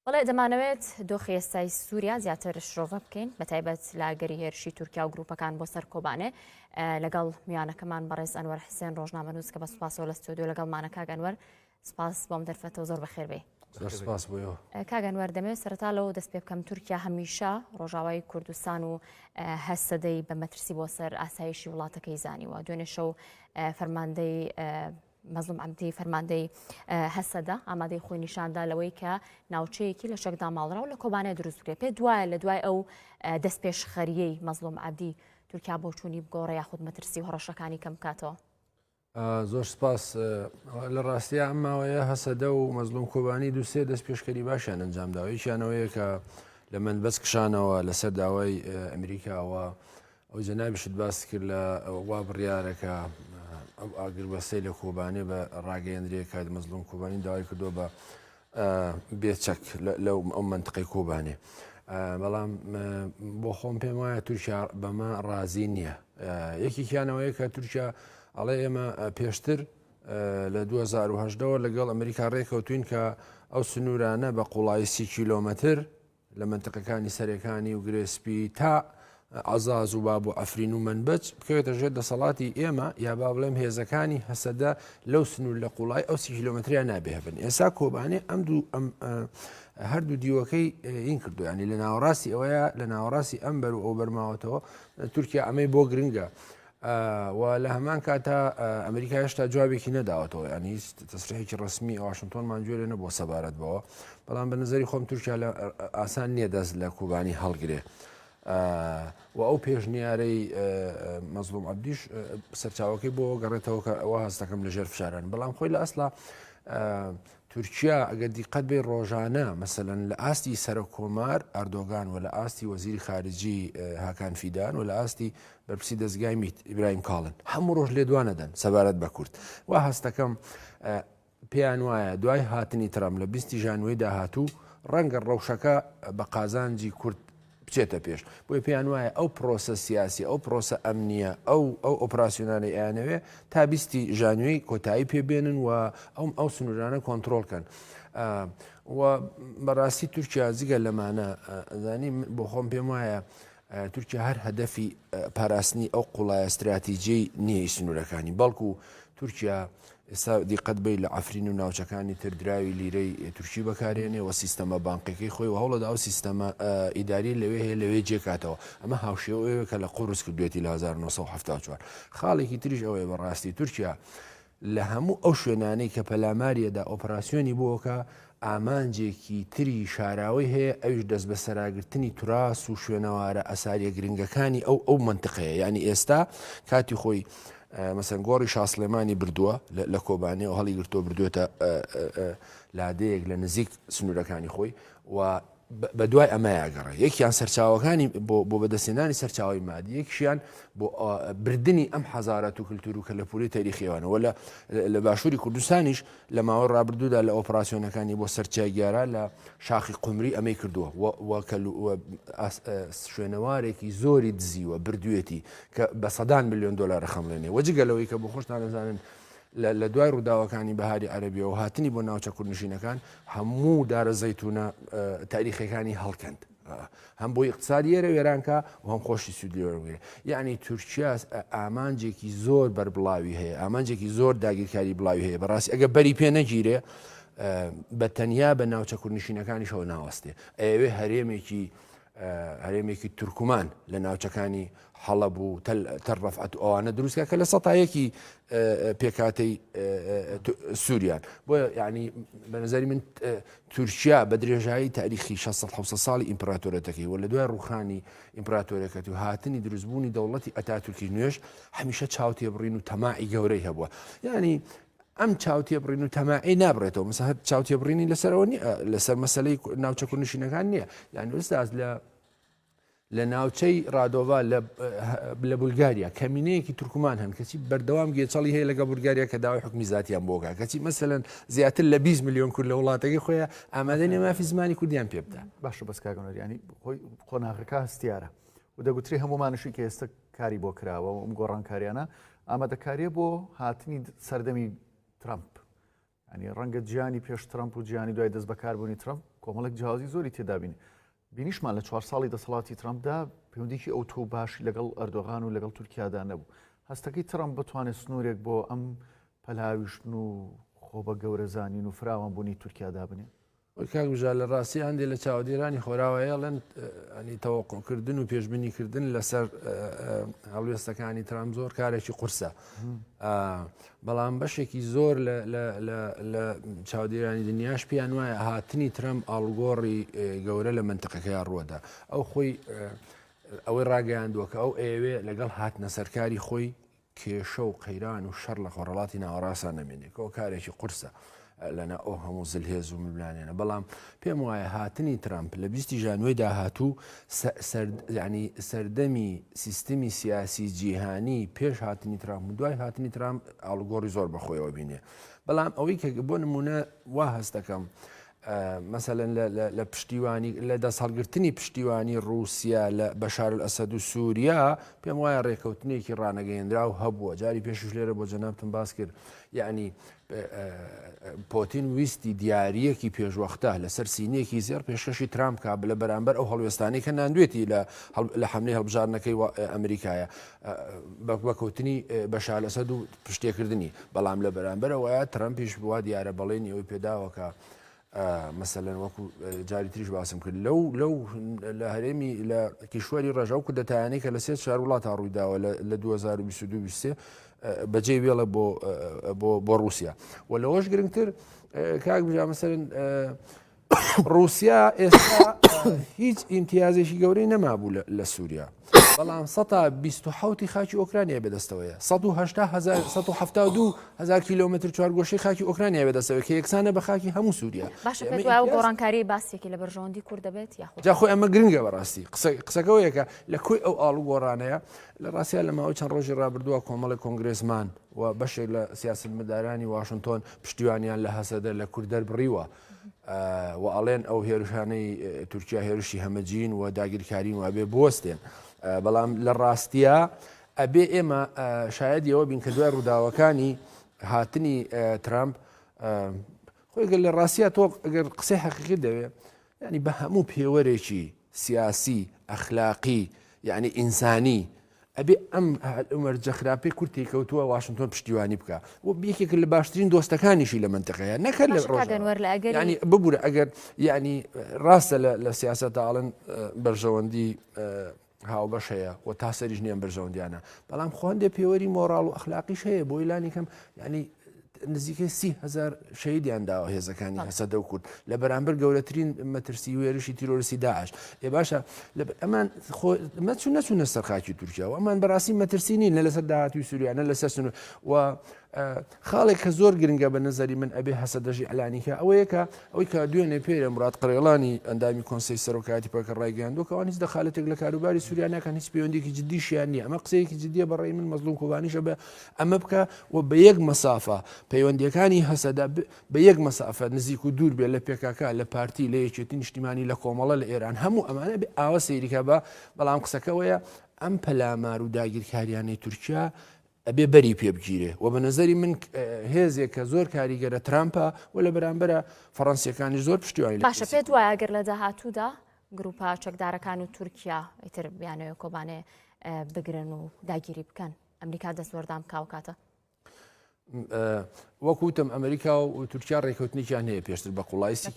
بەڵێ دەمانەوێت دۆخی ئێستای سووریا زیاتر شرۆڤە بکەین بە تایبەت لە ئەگەری هێرشی تورکیا و گروپەکان بۆ سەر کۆبانێ لەگەڵ میانەکەمان بەڕێز ئەنوەر حسێن ڕۆژنامە نووس کە بە سوپاسەوە لە ستۆدیۆ لەگەڵ مانەکە گەنوەر سپاس بۆم دەرفەتەوە زۆر بەخێربێ سپاس بۆەوە کاگەن وەردەمێ سەرتا لەوە دەست پێ بکەم تورکیا هەمیشە ڕۆژاوای کوردستان و هەسەدەی بە مەترسی بۆ سەر ئاسایشی وڵاتەکەی زانیوە دوێنێ شەو فەرماندەی مەزڵوم عەبدی، فەرماندەی هەسەدە ئامادەی خۆی نیشاندا لەوەی کە ناوچەیەکی لە چەکدا ماڵراو لە کۆبانێ دروست بکرێت پێ دوایە لە دوای ئەو دەست پێشخەریەی مەزلوم عبدی تورکیا بۆ چووی بگۆڕە یاخود مەترسی و هەڕەشەکانی کەم بکاتەوە زۆر سپاس لە ڕاستە ئەم ماوەیە هەسەدە و مەزلوم کۆبانی دوسێ دەست پێشکەری باشیان ئەنجامداوەیەکیانەوەیە کە لە من بەس کشانەوە لەسەر داوای ئەمریکاوە ئەو جەنابیشت باست کرد لە وا بڕیارە کە ئەو ئاگربەستەی لە کۆبانێ بە ڕاگەیەندرێ کە مەزلوم کۆبانی داوای کردو بە بێچەک لەو ئەو منتقی کۆبانێ بەڵام بۆ خۆم پێم وایە تورکیا بەمە ڕازی نییە یەکێکیانەوەیە کە تورکیا ئەڵێ ئێمە پێشتر لە 2010ەوە لەگەڵ ئەمریکا ڕێکەوتوین کە ئەو سنوورانە بە قوڵایی سی کیلۆمەتر لە مەنتقەکانی سەرێکانی و گرێ سپی تا عزاز و باب و ئەفرین و منبەج بکەوێتە ژێر دەسەڵاتی ئێمە یا با بڵێم هێزەکانی هەسەدە لەو سنوور لە قوڵای ئەو سی کیلومتریا نابێهبن ئێسا کۆبانێ ئەم دوو ئەم هەردوو دیوەکەی این کردو ینی لە ناوەڕاستی ئەوەیە لە ناوەڕاستی ئەم بەر و ئەو بەرماوەتەوە تورکیا ئەمەی بۆ گرنگە. و لە هەمان کاتا ئەمریکا هێشتا جوابێکی نەداوەتەوە یان هیچ تەسرێکی ڕسمی ئەواشنتۆنمان گوێ لێ نەبووە سەبارەت بەوە بەڵام بە نظری خۆم تورکیا لە ئاسان نییە دەست لە کوبانی هەڵگرێ. و ئەو پێشنیارەی مەزلوم عبدیش سەرچاوەکەی بۆ گەڕێتەوە کە ئەوە هەستەکەم لە ژێر فشاران بەڵام خۆی لە ئەسلا تورکیا ئەگەر دیقەت بێ ڕۆژانە مەسەن لە ئاستی سەرە کۆمار ئەردۆگان و لە ئاستی وەزیری خارجی هاکان فیدان و لە ئاستی بەرپرسی دەزگای میت، ئیبراهیم کاڵن، هەموو ڕۆژ لێدوانە دەن سەبارەت بە کورد. وا هەست دەکەم پێیان وایە دوای هاتنی ترەمپ لە بیست ژانویەی داهاتوو ڕەنگە ڕەوشەکە بە قازانجی کورد بچێتە پێش. بۆیە پێیان وایە ئەو پرۆسە سیاسی، ئەو پرۆسە ئەمنییە، ئەو ئەو ئۆپراسیۆنانەی ئەیانەوێ تا بیستی ژانویەی کۆتایی پێ بێنن و ئەوم ئەو سنوورانە کۆنترۆڵ کەن. و بەڕاستی تورکیا جگە لەمانە ئەزانی بۆ خۆم پێم وایە تورکیا هەر هەدەفی پاراستنی ئەو قوڵایە ستراتیجیەی نییە ی سنوورەکانی، بەڵکو تورکیا ئێستا دیقەت بەی لە عەفرین و ناوچەکانی تر دراوی لیرەی تورکی بەکارێنێ و سیستەمە بانقیەکەی خۆی و هەوڵەدا ئەو سیستەمە ئیداری لەوێ هەیە لەوێ جێکاتەوە ئەمە هاوشێوەیەوە کە لە قوڕس کردوێتی لە 1970 چوار خاڵێکی تریش ئەوەیە بەڕاستی تورکیا لە هەموو ئەو شوێنانەی کە پەلاماریەدا ئۆپراسیۆنی بۆکا، ئامانجێکی تری شاراوەی هەیە ئەویش دەستبەسەراگرتنی توراس و شوێنەوارە ئەساریە گرنگەکانی ئەو ئەو مەنتقەیە یانی ئێستا کاتی خۆی مەسەن گۆڕی شاسلێمانی بردووە لە کۆبانێ و هەڵی گرتۆ بردوێتە لادەیەک لە نزیک سنوورەکانی خۆی و بە دوای ئەمەیا گەڕێ. یەکیان سەرچاوەکانی بۆ بۆ بەدەستهێنانی سەرچاوەی مادی، یەکشیان بۆ بردنی ئەم حەزارەت و کلتور و کەلەپوری تەریخیەوانە وە لە لە باشووری کوردستانیش لە ماوەی ڕابردوودا لە ئۆپراسیۆنەکانی بۆ سەر چیای گیاران لە شاخی قومری ئەمەی کردووە وە وە کەل وە ئاس شوێنەوارێکی زۆری دزیوە بردوێتی کە بە سەدان ملیۆن دۆلارە خەمڵێنێ وە جگە لەوەی کە بۆ خۆشتان ئەزانن لە دوای ڕووداوەکانی بەهاری عەربیەوە هاتنی بۆ ناوچە کوردنشینەکان هەموو دارە زەیتونە تاریخەکانی هەڵکەند. هەم بۆ اقتصادیێرە وێرانکە و هەم خۆشی سوودلیێ یعنی تورکیا ئامانجێکی زۆر بەربڵاوی هەیە ئامانجێکی زۆر داگیرکاری بڵاوی هەیە بەڕاستی ئەگە بەری پێ نەگیرێ بە تەنیا بە ناوچە کوردنشینەکانیشەوە ناوەستێ ئەوێ هەرێمێکی هەرێمێکی تورکمان لە ناوچەکانی حەڵە بوو تەل ڕفعەت ئەوانە دروستکە کە لە سەتایەکی پێکاتەی سووریان بۆ ینی بەنظری من تورکیا بە درێژایی تاریخی 1600 ساڵی ئیمپراتۆرەتەکەی و لە دوای ڕوخانی ئیمپراتۆرەکەتی و هاتنی دروستبوونی دەوڵەتی ئەتا تورکی نوێش هەمیشە چاوتێبڕین و تەماعی گەورەی هەبووە ینی ئەم چاوتێبڕین و تەماعی نابرێتەوە مەسە هەر چاوتێبڕینی لەسەرەوە لەسەر مەسلەی ناوچە کوردنشینەکان نییە یعنی ئوستاز لە لە ناوچەی ڕادۆڤ لە بولگاریا کەمینەیەکی تورکمان هەن کەچی بەردەوام گێچەڵی هەیە لەگە بولگاریا کە داوای حکمی زیاتیان بۆگا کەچی مەسەن زیاتر لە 20 میلیۆن کورد لە وڵاتەکەی خۆیان ئامادەنی مافی زمانی کوردیان پێ بدە باشە بەس کاگەنەریانی خۆی قۆناغەکە هەستیارە و دەگوترێ هەموومانیشی کە ئێستا کاری بۆ کراوە و ئەم گۆڕانکارییانە ئامادەکارییە بۆ هاتنی سەردەمی ترەمپ. یانی ڕەنگە جیانی پێش ترەمپ و جیانی دوای دەست بەکاربوونی ترەمپ کۆمەڵێک جیاوازی زۆری تێدابین. بینیشمان لە چوار ساڵی دەسەڵاتی ترەمپدا پەیوەندیکی ئەو تۆ باشی لەگەڵ ئەردۆغان و لەگەڵ تورکیادا نەبوو. هەستەکەی ترەمپ بتوانێت سنوورێک بۆ ئەم پەلاویشتن و خۆ بە گەورەزانین و فراوانبوونی تورکیا دابنێ؟ کاک بژار لە ڕاستی هەندێ لە چاوەدێرانی خۆراوا ئێڵێن ئەنی تەوەقعکردن و پێشبنیکردن لەسەر هەڵوێستەکانی ترام زۆر کارێکی قورسە بەڵام بەشێکی زۆر لە چاودێرانی دنیاش پێیان وایە هاتنی ترام ئاڵگۆڕی گەورە لە منتەقەکەی ڕووەدا ئەو خۆی ئەوەی ڕاگەیاندووە کە ئەو ئەوێ لەگەڵ هاتنە سەرکاری خۆی کێشە و قەیران و شەڕ لە خۆڕەڵاتی ناوەڕاستا نەمێنێ کەەوە کارێکی قورسە لەنا ئەو هەموو زلهێز و ململانێنە بەڵام پێم وایە هاتنی ترامپ لە بیستی ژانوی داهاتوو ینی سەردەمی سیستمی سیاسی جیهانی پێش هاتنی ترامپ دوای هاتنی ترامپ ئاڵگۆڕی زۆر بەخۆیەوە بینێ بەڵام ئەوەی کە بۆ نمونە وا هەستەکەم مەسەلەن لە پشتیوانی لە دەستهەڵگرتنی پشتیوانی ڕووسیا لە بەشارئەسەد و سووریا پێم وایە ڕێکەوتنێکی ڕانەگەیەنراو هەبووە جاری پێشش لێرە بۆ جەنابتم باس کرد یعنی پۆتین ویستی دیارریەکی پێشوەختە لەسەر سینیەکی زێر پێشکەشی ترامپ کا لە بەرامبەر ئەو هەڵوێستانی کە ناندوێتی لە حملی هەڵبژارنەکەی ئەمریکایە بەکوتنی بەشالەسەد و پشتێکردنی، بەڵام لە بەرامبەرەوە ترەمپیش وا دیارە بەڵێنی ئەوەی پێداوە کە مەسەلەن وەکو جاری تریش باسم کرد لەو لەو لە هەرێمی لە کیشوەری ڕژاو کە دەتانەی کە لە سێ چار وڵات تا ڕوویداوە لە 2022 بەجێ وێڵە بۆ بۆ ڕوسیا و لەوەش گرنگتر کاک بژامەسەرن ڕوسیا ئێستا هیچ ئیمتیازێکی گەورەی نەمابوو لە سووریا بەڵام 1970 خاکی ئۆکرانیا بەدەستەوەیە 1970 کیلومتر چوارگۆشی خاکی ئۆکرانیا بەدەستەوە کە یەکسانە بە خاکی هەموو سووریا گۆڕانکاری باسێکی لە بەرژەوەندی کورد دەبێت یاخۆ ئەمە گرنگە بەڕاستی قسەکەەوەیەکە لە کوی ئەو ئاڵ و گۆڕانەیە لە ڕاستیا لە ماوەی چەند ڕۆژی ڕابردووە کۆمەڵی کۆنگرسمان و بەشێک لە سیاست مدارانی واشنتۆن پشتیوانیان لە هەسەدە لە کورد دەربڕیوە و ئەڵێن ئەو هێرشانەی تورکیا هێرشی هەمەجین و داگیرکارین و ئەبێ بوەستێن بەڵام لە ڕاستیە ئەبێ ئێمە شاید یەوە بین کە دوای ڕووداوەکانی هاتنی ترامپ خۆی گەل لە ڕاستە تۆ ئەگەر قسەی حەقیقی دەوێ ینی بە هەموو پێوەرێکی سیاسی، ئەخلاقی، یەعنی ئینسانی، ئەبێ ئەم مەرجە خراپەی کورد تێیکەوتووە واشنتۆن پشتیوانی بکا و یەکێکە لە باشترین دۆستەکانیشی لە مەنتەقەیە نەکەر لە باشە کاک ڕۆژاوا ئەنوەر لە ئەگەری یەعنی ببورە ئەگەر یەعنی ڕاستە لە لە سیاسەتا ئەڵێن ئە، بەرژەوەندی ئە، هاوبەش هەیە و تا سەریش نییە ئەم بەرژەوەندییانە بەڵام خۆ هەندێ پێوەری مۆڕاڵ و ئەخلاقیش هەیە بۆی لانی کەم یەعنی نزیکەی سی هزار شەیدیان داوە هێزەکانی هەسەدە و کورد لە بەرامبەر گەورەترین مەترسی وێرشی تیرۆرسی داعش ێ باشە ئەمان مەچون نەچونە سەر خاکی تورکیا و ئەمان بەڕاستی مەترسی نین لە لەسەر داهاتوی سووریانە لەسەر سن و خاڵێک کە زۆر گرنگە بە نظری من ئەبێ هەسە دەژی ئەلانیکە ئەوەیەکە ئەوەی کە دوێنێ پێرە مرات قڕێڵانی ئەندامی کۆنسی سەرۆکاتی پەکە ڕایگەیاندوکەوان هیچ دەخالەتێک لە کاروباری سووریانەکان هیچ پەیوەندێکی جددیشیان نیە ئەمە قسەیەکی جددیە بەڕێ من مەزلوم کۆبانیشە بە ئەمە بکە و بە یەک مەسافە پەیوەندیەکانی هەسەدە بە یەک مەسافە نزیک و دوور بێ لە پێکاکە لە پارتی لە یەکێتی نیشتیمانی لە کۆمەڵە لە ئێران هەموو ئەمانە بێ ئاوە سەیریکە بە بەڵام قسەکەوەیە ئەم پەلامار و داگیرکاریانەی تورکیا ئەبێ بەری پێبگیرێ و بە نظری من هێزێک کە زۆر کاریگەرە ترامپە و لە بەرامبەرە فەڕەنسیەکانی زۆر پشتیوانی باشە پێت وایە گەر لە داهاتوودا گروپە چەکدارەکان و تورکیا ئیتر بیانەوە کۆبانێ بگرن و داگیری بکەن ئەمریکا دەستوەردان بکا وکاتە. وەک وتم ئەمریکا و تورکیا ڕێکوتنیان هەیە پێشتر بە قوڵایسی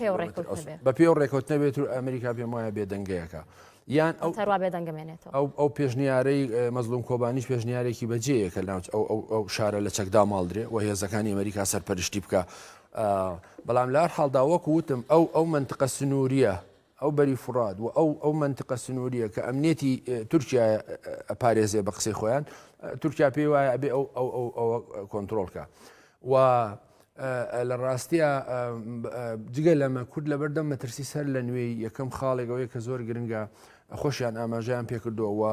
بە پێ و ڕێکوت نەبێت و ئەمریکا پێم وایە بێدەنگەیەەکە یان ئەو تەروا بێدەنگمێنێتەوە ئەو ئەو پێشنیارەی مەزلوم کۆبانیش پێشنیارێکی بەجێیە کە ناوچ ئەو شارە لە چەکدا ماڵدرێ و هێزەکانی ئەمریکا سەرپەرشتی بکە بەڵام لار حاڵدا وەک وتم ئەو ئەو منتقە سنووریە ئەو بەری فوڕات و ئەو ئەو مەنتقە سنوورییە کە ئەمنیەتی تورکیایە ئەپارێزێ بە قسەی خۆیان تورکیا پێی وایە ئەبێ ئەو ئەو ئەو ئەوە کۆنتترۆل کە و لە ڕاستیە جگە لەمە کورد لە بەردەم مەترسی سەر لە نوێی یەکەم خاڵێکەوەی کە زۆر گرنگە خۆشیان ئاماژیان پێکردووە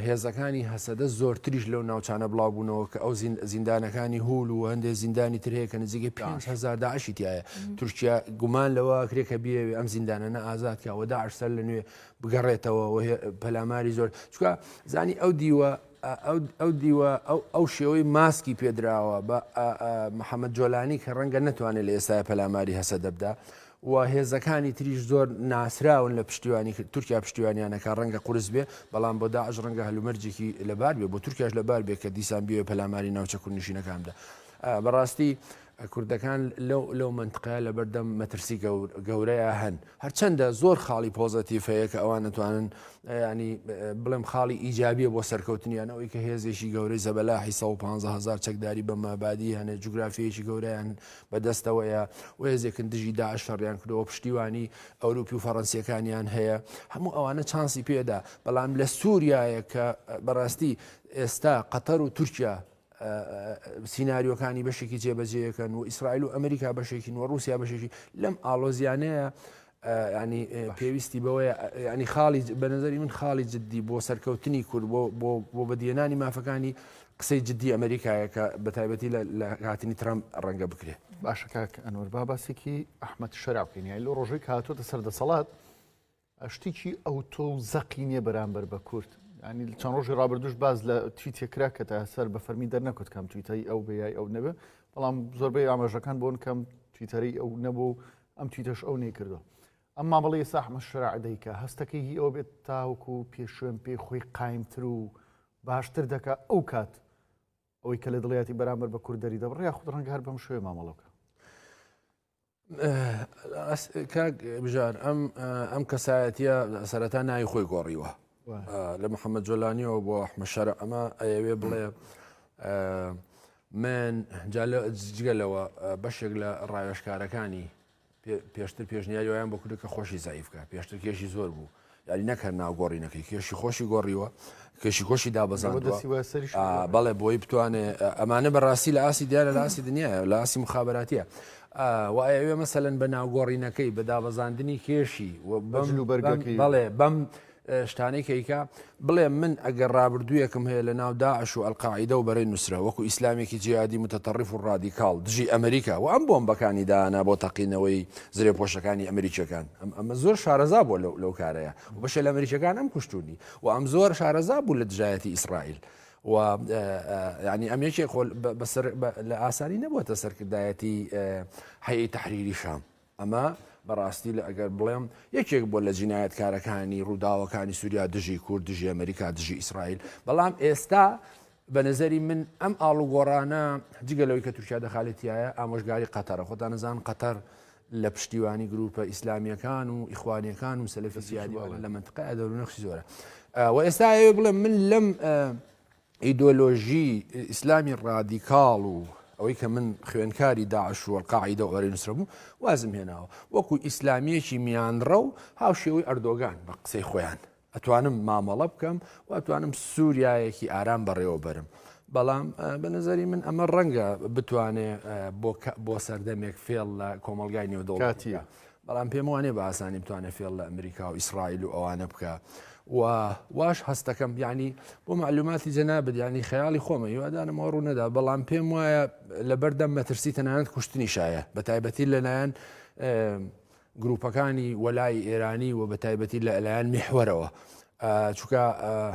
هێزەکانی هەسەدە زۆرتریش لەو ناوچانە بڵاوبوونەوە کە ئەو زیندانەکانی هول و هەندێک زیندانی تر هەیە کە نزیکەی 5هزار داعشی تایە تورکیا گومان لەوە کرێ کە بیەوێ ئەم زیندانەنە ئازاد کەەوە داعش سەر لە نوێ بگەڕێتەوە پەلاماری زۆر چکە زانی ئەو دیوە ئەو دیوە ئەو شێوەی ماسکی پێدراوە بە محەممەد جۆلانی کە ڕەنگە نتوانێت لە ئێستا پەلاماری هەسە دەبدا و هێزەکانی تریش زۆر ناسراون لە پشتیوانی کرد تورکیا پشتیوانیان ئەکا ڕەنگە قورس بێ بەڵام بۆ داعش ڕەنگە هەلومەرجێکی لەبار بێ بۆ تورکیاش لەبار بێ کە دیسان بیەوێ پەلاماری ناوچە کوردنشینەکان بدا بەڕاستی کوردەکان لەو لەو منتقەیە لەبەردەم مەترسی گەورەیە هەن هەرچەندە زۆر خاڵی پۆزەتیف هەیە کە ئەوان نتوانن ینی بڵێم خاڵی ئیجابیە بۆ سەرکەوتنیان ئەوەی کە هێزێکی گەورەی زەبەلاحی 150هزار چەکداری بە مابادی هەنێ جوگرافیەکی گەوریان بە دەستەوەیە و هێزێکن دژی داعش شەڕیان کردووە، پشتیوانی ئەوروپی و فەڕەنسییەکانیان هەیە، هەموو ئەوانە چانسی پێدا، بەڵام لە سوریایە کە بەڕاستی ئێستا قەتەر و تورکیا سیناریۆکانی بەشێکی جێبەجێیەکەن و ئیسرائیل و ئەمریکا بەشێکین و ڕوسیا بەشێکی لەم ئاڵۆزیانەیە یانی پێویستی بەوەیە یانی خاڵی بە نظری من خاڵی جددی بۆ سەرکەوتنی کورد بۆ بەدیێنانی مافەکانی قسەی جددی ئەمریکایە کە بە تایبەتی لە هاتنی ترام ڕەنگە بکرێت باشە کاک ئەنوەر با باسێکی ئەحمد شەراوکەینیای لۆ ڕۆژەی کاتۆتە سەر دەسەڵات شتێکی ئەو تۆ زەقی نییە بەرامبەر بە کورد ینی چەند ڕۆژی ڕابردوش باز لە تویتێ کرا کە تا سەر بە فەرمی دەرنەکوت کەم تویتایی ئەو بەیای ئەو نەبێ بەڵام زۆربەی ئاماژەکان بۆن کەم تویتەری ئەو نەبوو ئەم تویتەش ئەو نەیکردوە ئەم مامەڵی ئێستا ئەحمەد شەرع دەیکا هەستەکەی هی ئەوە بێت تاوەکو و پێ شوێن پێی خۆی قایمتر و باشتر دەکا ئەو کات ئەوەی کە لە دڵیاتی بەرامبەر بە کورد دەری دەبڕیا خود ڕەنگە هەر بەم شوێ مامەڵەکە کاک بژار ئەم ئەم کەسایەتە سەرەتا ناوی خۆی گۆڕیوە لە محەممەد جۆلانیەوە بۆ ئەحمە شەرع ئەمە ئەیەوێ بڵێ من جگەلەوە بەشێک لە ڕاوێشکارەکانی پێشتر پێشنیاری وایان بۆ کردو کە خۆشی زایفکە پێشتر کێشی زۆر بوو یاری نەکە ناوگۆڕی نەکەی کێشی خۆشی گۆڕیوە کێشی خۆشی دابزاندوە بەڵێ بۆی بتوانێ ئەمانە بەڕاستی لە ئاسی دیارە لە ئاسی دنیاە لە ئاسی مخاباتیە ئا وە ئەیەوێ مەسەلەن بە ناوگۆڕینەکەی، بە دابەزاندنی کێشی و بە بەم جل و بەم بەرگەکەی و بەڵێ بەم شتانەی کە ئیکا، بڵێ من ئەگەر ڕابردوویەکم هەیە لە ناو داعش و ئەلقاعیدە و بەرەی نوسرە وەکو ئیسلامێکی جیهادی متتەڕف و ڕادیکاڵ دژی ئەمریکا و ئەم بۆمبەکانی دانا بۆ تەقینەوەی زرێپۆشەکانی ئەمریکیەکان ئەم ئەمە زۆر شارەزا بووە لەو لەو کارەیا و بەشێ لە ئەمریکیەکان ئەم کوشتوونی و ئەم زۆر شارەزا بوو لە دژایەتی ئیسڕائیل و یانی ئەم یەکێ خۆل بەسەر لە ئاسانی نەبووەتە سەرکردایەتی حەیە تحریری شام ئەمە بەڕاستی لە ئەگەر بڵێم یەکێک بۆ لە جینایەتکارەکانی ڕووداوەکانی سووریا دژی کورد دژی ئەمریکا دژی ئیسرائیل بەڵام ئێستا بە نظری من ئەم ئاڵوگۆڕانە جگە لەوەی کە تورکیا دەخالێتیایە ئامۆژگاری قەتەرە خۆتان نزان قەتەر لە پشتیوانی گروپە ئیسلامیەکان و ئیخوانیەکان و سەلفی زیادیوانە لە منتقە دەور نەخشی زۆرە و ئێستا ئەوێ بڵێ من لەم ئیدۆلۆژی ئیسلامی ڕادیکاڵ و ئەوەی کە من خوێنکاری داعش و قاعدە و ئەرێ نووسرە بوو وازم هێناوە وەکو ئیسلامیەکی میانڕە و هاو شێوەی ئەردۆگان بە قسەی خۆیان ئەتوانم مامەڵە بکەم و ئەتوانم سووریایەکی ئارام بەڕێوە بەرم. بەڵام بە نظری من ئەمە ڕەنگە بتوانێ بۆ سەردەمێک فێڵ لە کۆمەلگای نێودەوڵاتیە بەڵام پێم وانێ بە ئاسانی بتوانێت فێڵ لە ئەمریکا و ئیسرائیل و ئەوانە بکە و واش هەستەکەم ینی بۆ معلوماتی جەنابەت ینی خەیاڵی خۆمە هیوادانمەوە ڕوو نەدا بەڵام پێم وایە لەبەردەم مەترسی تەنانەت کوشتنی شایە بە تایبەتی لەلایەن گروپەکانی وەلای ئێرانی و بەتایبەتی لە لایەن میحوەرەوە چکە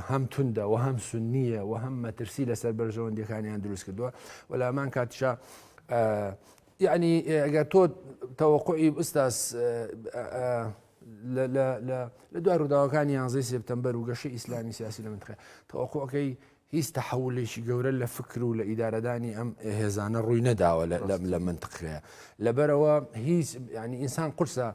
هەم توندە و هەم سنیە و هەم مەترسی لەسەر بەرژەوەندەکانیان دروست کردووە وەلامان کاتشا یعنی ئەگەر تۆ تەوەقعی ئوستاس لە دوای ڕووداوەکانی یانزەی سپتمبەر و گەشە ئیسلامی سیاسی لە منتخە تەوەقعەکەی هیچ تەحەولێکی گەورە لە فکر و لە ئیدارەدانی ئەم هێزانە ڕووی نەداوە لە منتقەیە لەبەرەوە هیچ ینی ئینسان قورسە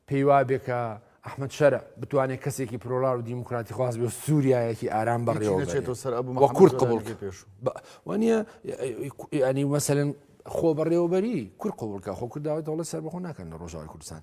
پێی وابێ کە ئەحمد شەرع بتوانێت کەسێکی پرۆلار و دیموکراتی خواست بێ سووریایەکی ئارام بەڕێوەێتەوە سەر وە کورد قبول پێش وانە ینی مەسەن خۆ بەڕێوەبەری کورد قوڵکە خۆ کورداوە دەڵە سەر بەخۆ ناکەن لە ڕۆژاوی کوردستان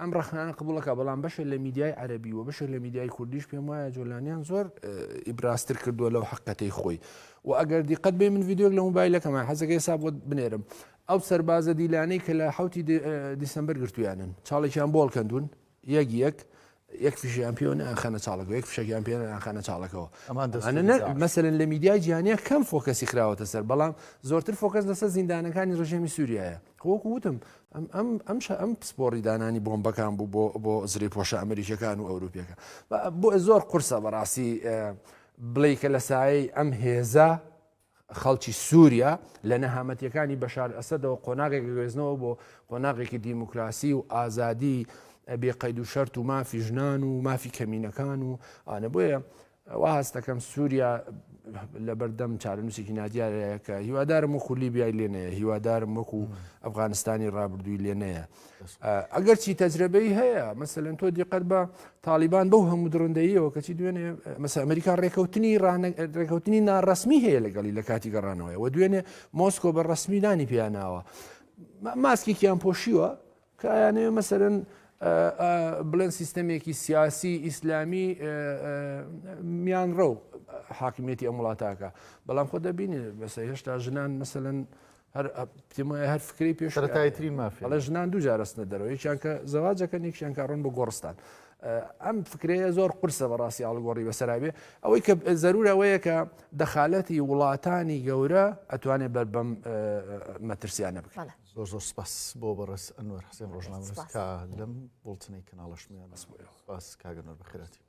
ئەم ڕەخنانە قبوڵ ئەکا بەڵام بەشێک لە میدیای عەرەبی و بەشێک لە میدیای کوردیش پێم وایە جۆلانیان زۆر ئیبرازتر کردووە لەو حەقەتەی خۆی و ئەگەر دیقەت بێ من ڤیدیۆک لە موبایلەکەمان حەزەکەی سا بۆ بنێرم ئەو سەربازە دیلانەی کە لە حوتی دیسمبر گرتویانن چاڵێکیان بۆڵ کەندون یەک یەک یەک فیشیان پێوە ناخەنە چاڵەکە یەک فشەکیان پێ ناخەنە چاڵەکەەوە مەسەن لە میدیای جیانە کەم فۆکەسی خراوەتە سەر بەڵام زۆرتر فۆکەس لەسەر زیندانەکانی ڕژێمی سووریایە خۆکو وتم ئەم شە ئەم پسپۆڕی دانانی بۆمبەکان بوو بۆ بۆ زرێپۆشە ئەمریکیەکان و ئەوروپیەکە بۆ زۆر قورسە بەڕاستی بڵێ کە لە سایەی ئەم هێزە خەڵکی سووریا لە نەهامەتیەکانی بەشار ئەسەدەوە قۆناغێک گوێزنەوە بۆ قۆناغێکی دیموکراسی و ئازادی بێقەید و شەرت و مافی ژنان و مافی کەمینەکان و ئانە بۆیە وا هەست دەکەم سووریا لەبەردەم چارەنووسێکی نادیارەیەکە هیوادارم وەکو لیبیای لێ نەیە هیوادارم وەکو ئەفغانستانی ڕابردووی لێ نەیە ئەگەر چی تەجربەی هەیە مەسەلەن تۆ دیقەت بە تاالبان بەو هەموو درندەیەوە کەچی دوێنێ مەس ئەمریکا ڕێکەوتنی ڕێکەوتنی ناڕسمی هەیە لەگەڵی لە کاتی گەڕانەوەی و دوێنێ مۆسکۆ بە ڕسمی نانی پیاناوە ماسکێکیان پۆشیوە کە ئەیانەوێ مەسەلەن بڵێن سیستەمێکی سیاسی ئیسلامی میانڕەو حاکمیەتی ئەم وڵاتاکە بەڵام خۆ دەبینێ بەسە هێشتا ژنان مەسەن هەر پتیمای هەر فکری پێشتایترین مافی لە ژنان دوو جارستە دەرەوە یەکیان کە زەواجەکە نیکشیان کارڕۆن بۆ گۆڕستان. ئەم فکرەیە زۆر قرسە بەڕاستی ئاڵگۆڕی بەسەرابێ ئەوەی کە زەرورەوەیە کە دەخالەتی وڵاتانی گەورە ئەتوانێت بەر بەم مەترسیانە بکەن. زۆر زۆر سپاس بۆ بەڕێز ئەنوەر حسێن ڕۆژنامەنووس کە لەم بوڵتنەی کەناڵەشمیان بەس بۆ ئێوە سپاس کاک ئەنوەر بەخێراتیبێت.